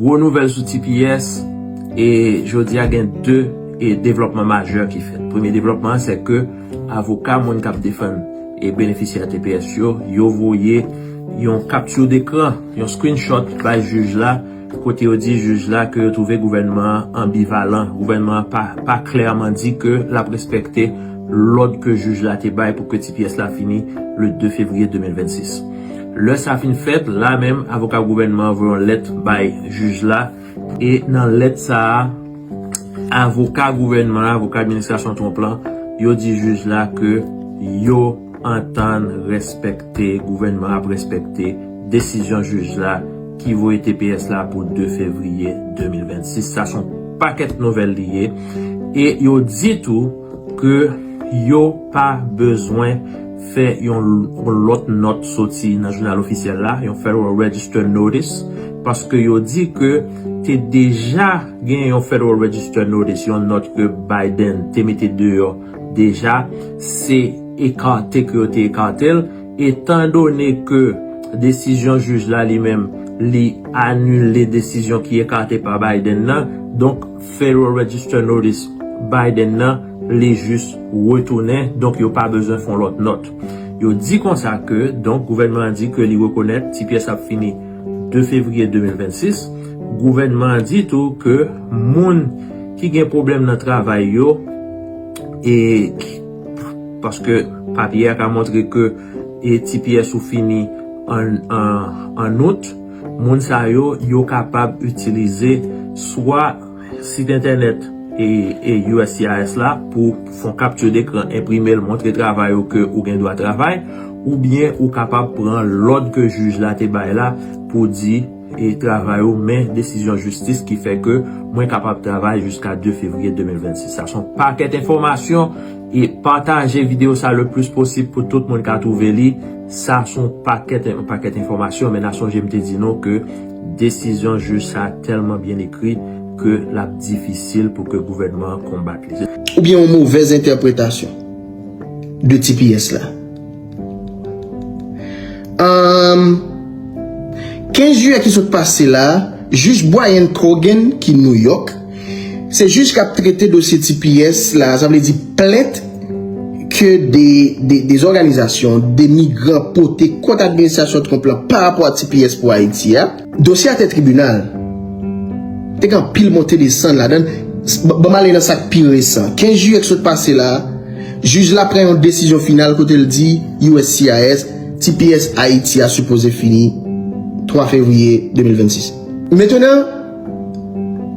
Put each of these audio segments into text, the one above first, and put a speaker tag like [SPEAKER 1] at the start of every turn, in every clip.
[SPEAKER 1] Gwo nouvèl sou tps, e jodi a gen 2 devlòpman majè ki fèt. Premye devlòpman an se ke avoka moun kap defann e benefisyè tps yo, yo voye yon kapti dekran, yon screenshot bay jij la, kote yo di jij la ke yo twouve gouvènman an anbivalan, gouvènman an pa klèman di ke lap respekte lòd ke jij la te bay pou ke tps la fini le 2 fevriye 2026. Lè sa fin fèt, la menm avoka gouvènman an voye yon lèt bay jij la e nan lèt sa a avoka gouvènman an, avoka administrasyon Trump lan, yo di jij la ke yo antann rèspèkte, gouvènman an ap rèspèkte desizyon jij la ki voye tps la pou 2 fevriye 2026. Sa son pakèt nouvèl li ye e yo di tou ke yo pa bezwen fè yon lòt nòt soti nan jounal ofisyèl la, yon Federal Register Notice, paske yo di ke te deja gen yon Federal Register Notice, yon nòt ke Biden te mete deyò deja, se ekate ke yo te ekate l, etan done ke desizyon jij la li menm, li anile desizyon ki ekate pa Biden nan, donk. Federal Register Notice Biden nan li jis retounen donk yo pa bezwen fon lòt nòt. Yo di konsa ke donk gouvènman an di ke li rekonèt ti pyès ap fini 2 fevriye 2026. Gouvènman an di tou ke moun ki gen pwoblèm nan travay yo e paske papye a ka montre ke ti pyès ou fini an out. Moun sa yo, yo kapab itilize swa sit entènèt uscis la pou fon kapti dekran, enprime l, montre travay ou ke ou gen dwa travay, oubyen ou kapab pran lòd ke jij la te bay la pou di e travay ou men desizyon jistis ki fè ke mwen kapab travay jiska 2 fevriye 2026. Sa son pakèt enfòmasyon. E pataje video sa le plus posib pou tout moun ka trouve li. Sa son pakèt yon pakèt enfòmasyon men na sonje m te di nou ke desizyon jij sa tèlman byen ekri ke lap difisil pou ke gouvènman an konbat li. Ou byen yon movèz
[SPEAKER 2] entèpretasyon de tps la. Anm 15 jiyè ki sot pase la, jij Brian Cogan ki New York, se jij kap trete dosye tps la, sa vle di plent ke 2 òganizasyon, 2 migran pote kont administrasyon Trump la pa rapò a tps pou Ayiti a. Dosye a te tribinal. Te gen anpil monte desann ladan l. Ban m ale nan sa k pi resan. 15 jiyè k sot pase la, jij la pran yon desizyon final kote l di uscis tps Ayiti a sipoze fini 3 fevriye 2026. Mentnan,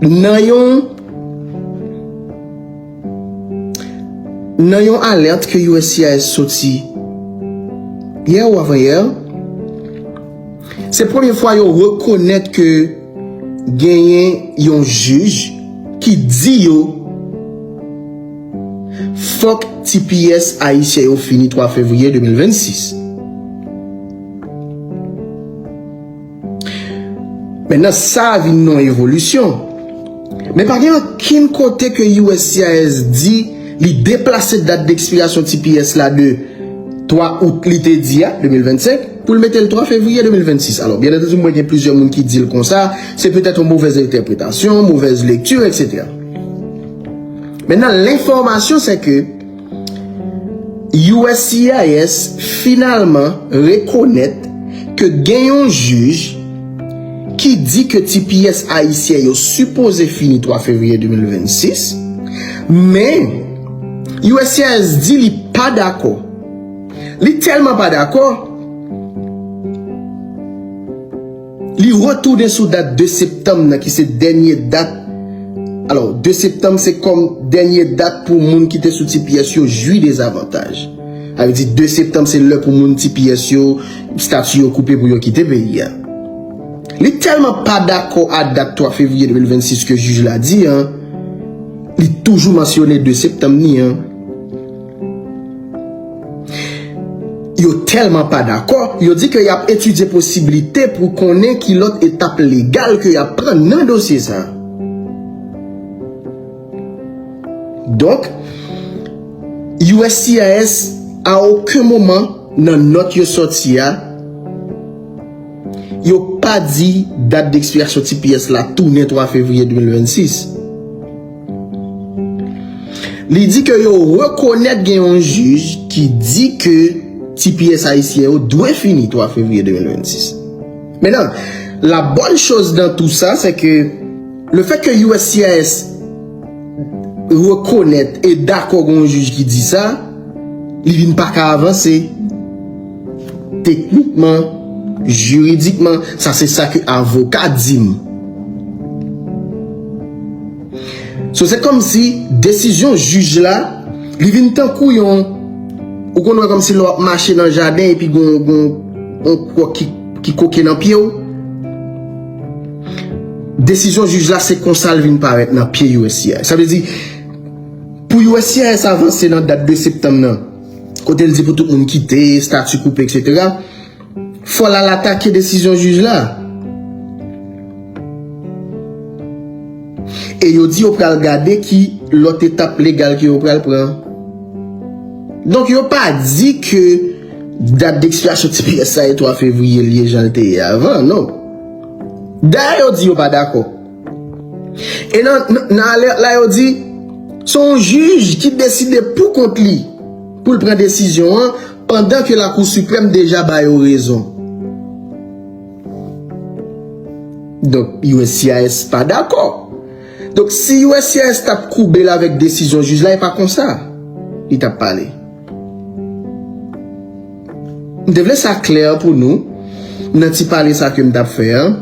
[SPEAKER 2] nan yon nan yon alèt ke uscis soti yè ou avan yè, Se premye fwa yo rekonèt ke genyen yon jij ki di yo fòk tps ayisyen yo fini 3 fevriye 2026. Mentnan sa vin yon evolisyon. Men pa gen okenn kote ke uscis di li deplase dat dekspirasyon tps la de 3 out li te di a, 2025, pou l mete l 3 fevriye 2026. Alò, byen antandi mwen gen plizyè moun ki di l konsa, se petèt yon movèz entèpretasyon, movèz lekti, eksetera. Mentnan, lenfòmasyon sè ke uscis finalman rekonèt ke gen yon jij ki di ke tps ayisyen yo sipoze fini 3 fevriye 2026, men uscis di li pa dakò. Li telman pa dakò, li retounen sou dat 2 septanm nan ki se dènye dat, alò 2 septanm se kòm dènye dat pou moun ki te sou tps yo jwi dezavantaj. Sa vle di 2 septanm se lè pou moun tps yo, stati yo koupe pou yo kite peyi a. Li telman pa dakò a dat 3 fevriye 2026 ke jij la di an, li toujou mansyone 2 septanm ni an. Yo tèlman pa dakò, yo di ke yap etidye posiblite pou konnen ki lòt etap legal ke yap pran nan dosye sa. Donk, uscis a oken moman nan nòt yo sòti a, yo pa di dat dekspirasyon tps la tounen 3 fevriye 2026. Li di ke yo rekonèt gen yon jij ki di ke tps ayisyen yo dwe fini 3 fevriye 2026. Mennan, la bonne chose dans tout ça c'est que le fait que uscis rekonèt e dakò gen yon jij ki di sa, li vin pa ka avanse. Teknikman, jiridikman, sa se sa ke avoka di m. So se kòm si desizyon jij la, li vin tankou yon, ou konn wè kòm si lè w ap mache nan jaden epi gen yon kò ki koke nan pye w. Desizyon jij la se konsa l vin parèt nan pye uscis. Sa vle di, pou uscis avanse nan dat 2 septanm nan. kote l di pou tout moun kite, stati koupe etc. Fò l al atake desizyon jij la. E yo di yo pral gade ki lòt etap legal ke yo pral pran. Donk yo pa di ke dat dekspirasyon tps la e 3 fevriye l ye jan l te ye avan, non. Dayè yo di yo pa dakò. E nan alèt la yo di, se yon jij ki deside pou kont li pou l pran desizyon an pandan ke Lakou Siprèm deja ba yo rezon. Donk uscis pa dakò. Donk si uscis t ap koube l avèk desizyon jij la e pa konsa li t ap pale. M te vle sa klè pou nou nan ti pale sa ke m t ap fè an.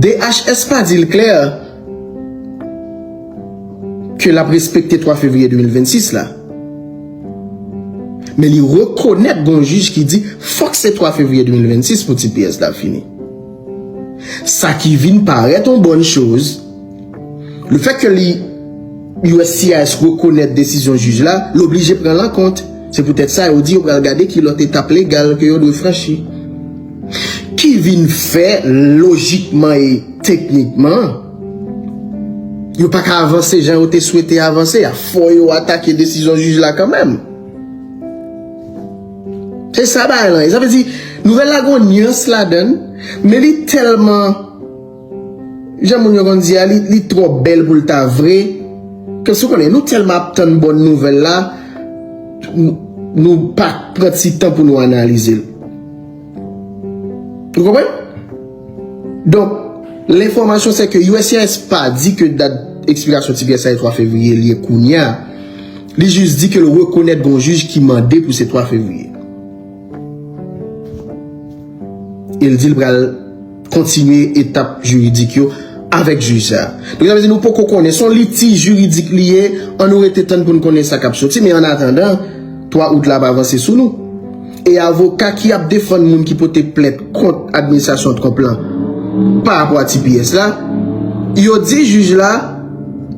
[SPEAKER 2] DHS pa di l klè ke l ap respekte 3 fevriye 2026 la. Men li rekonèt gon jij ki di fòk se 3 fevriye 2026 pou tps la fini. Sa ki vin parèt on bòn choz. Le fèt ke li uscis rekonèt desizyon jij la, l oblije pran l an kont. Se poutèt sa yo di yo pral gade ki lòt etap legal ke yo dwe franchi. Ki vin fè lojikman e teknikman, yo pa ka avanse jan yo te swete avanse a. Fò yo atake desizyon jij la kanmenm. Se sa bagay lan ye. Sa vle di, nouvèl la gen yon nyans ladan l, men li tèlman. Jan moun yo konn di a li twò bèl pou l ta vre ke sou konnen nou tèlman ap tann bòn nouvèl la nou pa pran ti tan pou nou analize l nou konprann donk l enfòmasyon se ke uscis pa di ke dat ekspirasyon ti pyès la se 3 fevriye li ye kounya li jis di ke l rekonèt gon jij ki mande pou se 3 fevriye e l di l pral. Kontinye etap jiridik yo avèk jij sa. Donk sa vle di nou poko konnen, son litij jiridik li ye, an nou rete tann pou n konnen sa k ap soti, men an atandan 3 out la ap avanse sou nou. E avoka ki ap defann moun ki pote plent kont administrasyon Trump la pa rapò a tps la, yo di jij la,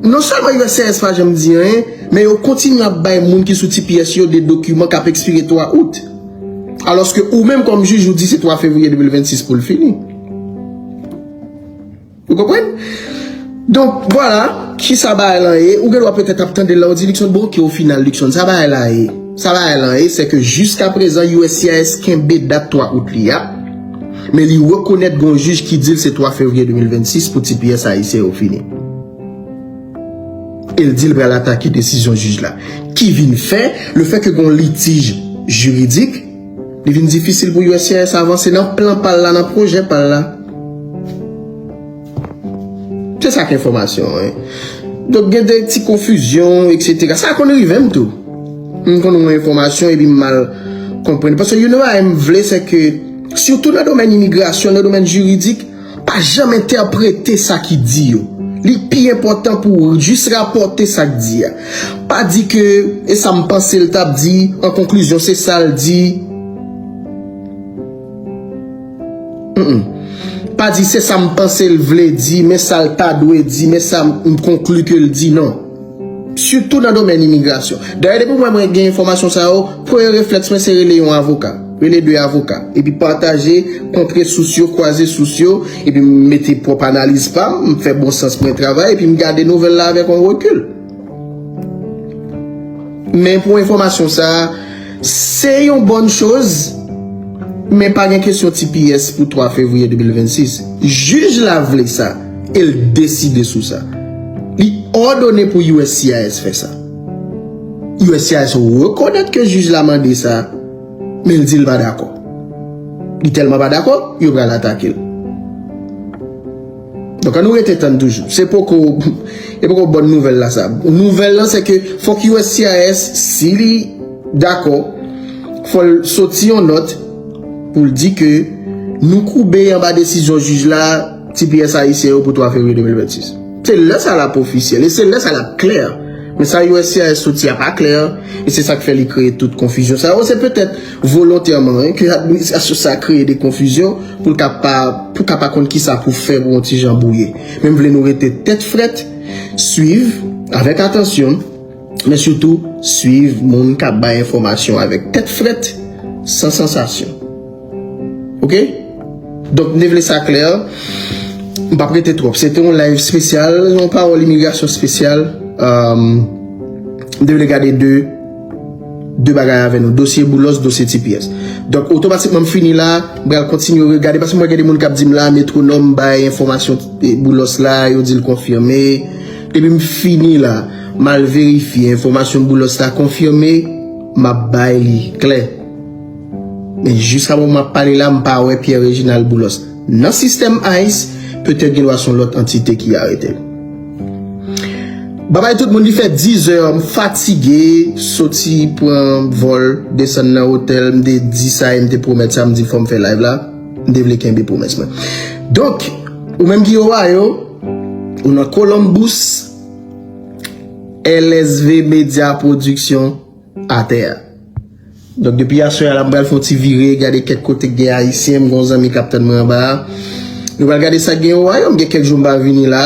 [SPEAKER 2] non sèlman uscis pa janm di anyen, men yo kontinye ap bay moun ki sou tps yo de dokiman k ap ekspire 3 out. Alòske ou menm kòm jij ou di se 3 fevriye 2026 pou l fini. Ou konprann? Donk, vwala, ki sa bagay lan ye, ou gen dwa petèt ap tande la ou di Luckson, bon oke o final Luckson, sa bagay la ye? Sa bagay lan ye, se ke jiska prezan uscis kenbe dat 3 out li a, men li rekonèt gen yon jij ki di l se 3 fevriye 2026 pou tps ayisyen yo fini. e l di l pral atake desizyon jij la ki vin fè le fè ke gen yon litij jiridik li vin difisil pou uscis avanse nan plan pa l la, nan pwojè pa l la se sa k enfòmasyon an donk gen de ti konfizyon eksetera sa konn rive m tou m konn wè enfòmasyon epi m mal konprann paske youn nan bagay m vle se ke sitou nan domèn imigrasyon nan domèn jiridik Pa janm entèprete sa ki di yo. Li pi enpòtan pou w jis rapòte sa k di a. Pa di ke e sa m panse l t ap di, an konklizyon se sa l di. Hum. Pa di se sa m panse l vle di, men sa l ta dwe di, men sa m konkli ke l di. Non. Sitou nan domèn imigrasyon. Dayè depi mwen mwen gen enfòmasyon sa yo, premye reflèks mwen se rele yon avoka. Rele 2 avoka. Epi pataje, kontre sous yo, kwaze sous yo, epi m mete pwòp analiz pa m, m fè bon sans mwen travay, epi m gade nouvèl la avèk yon rekil. Men pou enfòmasyon sa a. Se yon bòn choz, men pa gen kesyon tps pou 3 fevriye 2026. Jij la vle sa e l deside sou sa. Li òdone pou uscis fè sa. Uscis rekonèt ke jij la mande sa, men l di l pa dakò. Li tèlman pa dakò, yo pral atake l. Donk an nou rete tann toujou. Se poko e poko bòn nouvèl la sa. Nouvèl lan se ke fòk uscis si li dakò fò l soti yon nòt pou l di ke nou koube anba desizyon jij la tps ayisyen yo pou 3 fevriye 2026. Se lè sa l ap ofisyèl e se lè sa l ap klè. Men sa uscis soti a pa klè e se sa k fè li kreye tout konfizyon sa yo. Se petèt. Volontèman wi, ke administrasyon sa kreye de konfizyon pou l ka pa, pou ka pa konn kisa pou fè pou yon ti jan bwouye. Men m vle nou rete tèt frèt, swiv avèk atansyon, men sitou swiv moun k ap bay enfòmasyon avèk tèt frèt, san sansasyon. Ok? Donk m te vle sa klè, m pap rete twòp. Se te yon live spesyal, yon pawòl imigrasyon spesyal, m te vle gade de. 2 bagay avè nou, dosye Boulos, dosye tps. Donk, otomatikman m fini la, m pral kontinye regade, paske m wè gen de moun k ap di m la, Metronome bay enfòmasyon Boulos la, yo di l konfime. Depi m fini la, m al verifye enfòmasyon Boulos la konfime, m ap bay li klè. Men, jiska moman m ap pale la, m pa wè Pierre Reginald Boulos. Nan sistèm ice, petèt gen dwa se yon lòt antite ki arete l. Babay tout moun, li fè dizè, m fatige, soti pran vòl, desann nan otèl, m te di sa e m te pwomèt sa, m di fò m fè live la, m te vle kenbe pwomès mwen. Donk, ou menm ki Ohio, ou nan Columbus, LSV Media Production atè a. Donk depi aswè a la m pral fè yon ti vire gade kèk kote k gen ayisyen, m gen yon zanmi k ap tann mwen anba a. Nou pral gade sa k gen Owayò, m gen kèk jou m pa vini la.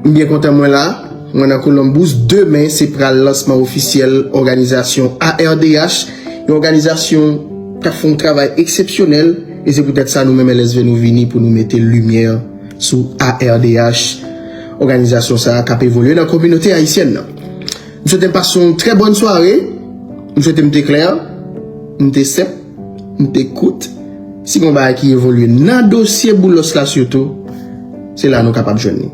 [SPEAKER 2] M byen kontan mwen la, mwen nan Columbus. Demen se pral lansman ofisyèl òganizasyon ARDH, yon òganizasyon k ap fè yon travay eksepsyonèl e se poutèt sa nou menm LSV nou vini pou nou mete limyè sou ARDH, òganizasyon sa a k ap evolye nan kominote ayisyèn nan. M swete n pase yon trè bòn sware. M swete m te klè, m te senp, m te kout. Si gen yon bagay ki evolye nan dosye Boulos la sitou, se la nou kapab jwenn li.